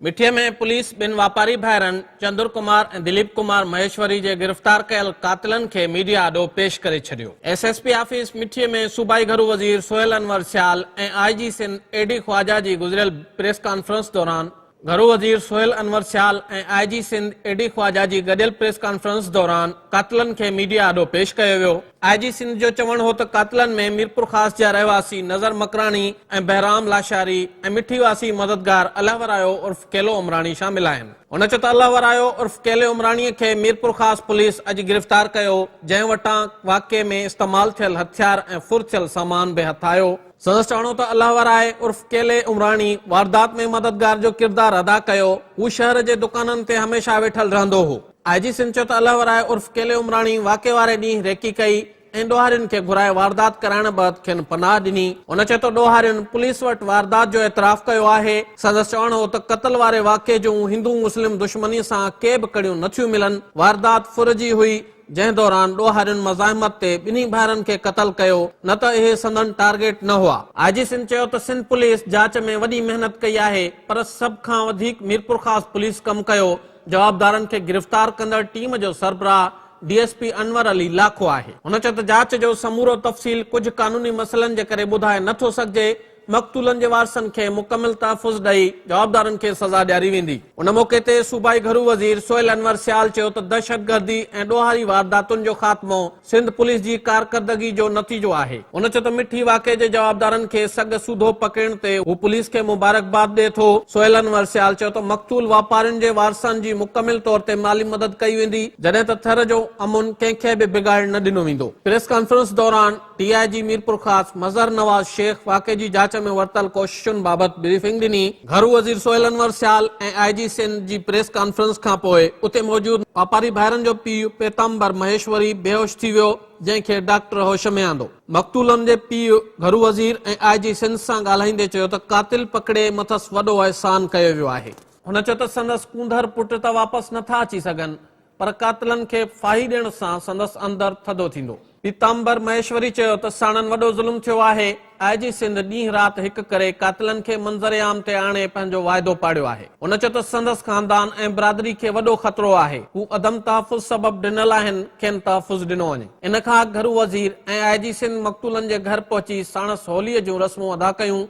مٺي ۾ police ٻن واپاري ڀائرن چندر ڪمار ۽ دليپ ڪمار مهيشوري جي گرفتار ڪيل قاتلن کي ميڊيا آڏو پيش ڪري ڇڏيو. S S P office Mithi ۾ صوبائي گهرو وزير Sohail Anwar Sial ۽ I G Sindh A D Khawaja جي گذريل پريس ڪانفرنس دوران، گهرو وزير Sohail Anwar Sial ۽ I G Sindh A D Khawaja جي گڏيل پريس ڪانفرنس دوران قاتلن کي ميڊيا آڏو پيش ڪيو ويو. آء جي سنڌ جو چوڻ هو ته قاتلن ۾ ميرپورخاص جا رهواسي نظر مڪراڻي ۽ بهرام لاشاري ۽ مٺي واسي مددگار الله ورايو عرف ڪيلو عمراڻي شامل آهن. هن چيو ته الله ورايو عرف ڪيلي عمراڻي کي ميرپورخاص پوليس اڄ گرفتار ڪيو، جنهن وٽان واقعي ۾ استعمال ٿيل هٿيار ۽ ڦر ٿيل سامان به هٿ آيو. سندس چوڻ هو ته الله ورائي عرف ڪيلي عمراڻي واردات ۾ مددگار جو ڪردار ادا ڪيو، هو شهر جي دڪانن تي هميشه ويٺل رهندو هو، آء جي سنڌ چيو ته الله ورائي عرف ڪيلي عمراڻي واقعي واري ڏينهن ريڪي ڪئي ۽ ڏوهارين کي گهرائي واردات ڪرائڻ بعد کين پناهه ڏني. هن چيو ته ڏوهارين پوليس وٽ واردات جو اعتراف ڪيو آهي. سندس چوڻ هو ته قتل واري واقعي جون هندو مسلم دشمني سان ڪي به ڪڙيون نه ٿيون ملن، واردات ڦر جي هئي جنهن دوران ڏوهارين مزاحمت تي ٻنهي ڀائرن کي قتل ڪيو نه ته اهي سندن ٽارگيٽ نه هئا. آء جي سنڌ چيو ته سنڌ پوليس جاچ ۾ وڏي محنت ڪئي آهي پر سڀ کان وڌيڪ ميرپورخاص پوليس ڪم ڪيو جوابدارن کي گرفتار ڪندڙ ٽيم جو سربراهه D S P Anwar Ali Lakho آهي. هن چيو ته جاچ جو سمورو تفصيل ڪجهه قانوني مسئلن جي ڪري ٻڌائي نه ٿو سگهجي، مقتولن جي وارثن کي مڪمل تحفظ ڏئي جوابدارن کي سزا ڏياري ويندي. ان موقعي تي صوبائي گهرو وزير سهيل انور سيال چيو ته دهشتگردي ۽ ڏوهاري وارداتن جو خاتمو سنڌ پوليس جي ڪارڪردگي جو نتيجو آهي. هن چيو ته مٺي واقعي جي جوابدارن کي سڳ سوڌو پڪڙڻ تي هو پوليس کي مبارڪباد ڏئي ٿو. سهيل انور سيال چيو ته مقتول واپارين جي وارثن جي مڪمل طور تي مالي مدد ڪئي ويندي، جڏهن ته ٿر جو امن ڪنهن کي به بگاڙڻ نه ڏنو ويندو. پريس ڪانفرنس دوران D I G Mirpurkhas Mazhar Nawaz Shaikh واقعي جي جاچ ۾ ورتل ڪوششن بابت بريفنگ ڏني. گهرو وزير سهيل انور سيال ۽ آء جي سنڌ جي پريس ڪانفرنس کانپوء اتي موجود واپاري ڀائرن جو پيء پيتامبر مهيشوري بيهوش ٿي ويو جنهن کي ڊاڪٽر هوش ۾ آندو. مقتولن جي پيء گهرو وزير ۽ آء جي سنڌ سان ڳالهائيندي چيو ته قاتل پڪڙي مٿس وڏو احسان ڪيو ويو آهي. هن چيو ته سندس ڪونڌر پٽ ته واپس نٿا اچي سگهن پر قاتلن کي ڦاهي ڏيڻ سان سندس اندر ٿڌو ٿيندو. پيتامبر مهيشوري چيو ته ساڻن وڏو ظلم ٿيو آهي، آء جي سنڌ ڏينهن رات هڪ ڪري قاتلن کي منظر عام تي آڻي پنهنجو واعدو پاڙيو آهي، هن چيو ته سندس خاندان ۽ برادري کي وڏو خطرو آهي، هو عدم تحفظ سبب ڊنل آهن، کين تحفظ ڏنو وڃي. ان کان اڳ گهرو وزير ۽ آء جي سنڌ مقتولن جي گهر پهچي ساڻس هولي جون رسمون ادا ڪيون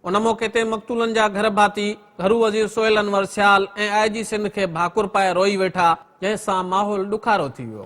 ان موقعي تي مقتولن جا گهر ڀاتي گهرو وزير سهيل انور سيال ۽ آء جي سنڌ کي ڀاڪر پائي روئي ويٺا جنهن سان ماحول ڏکارو ٿي ويو.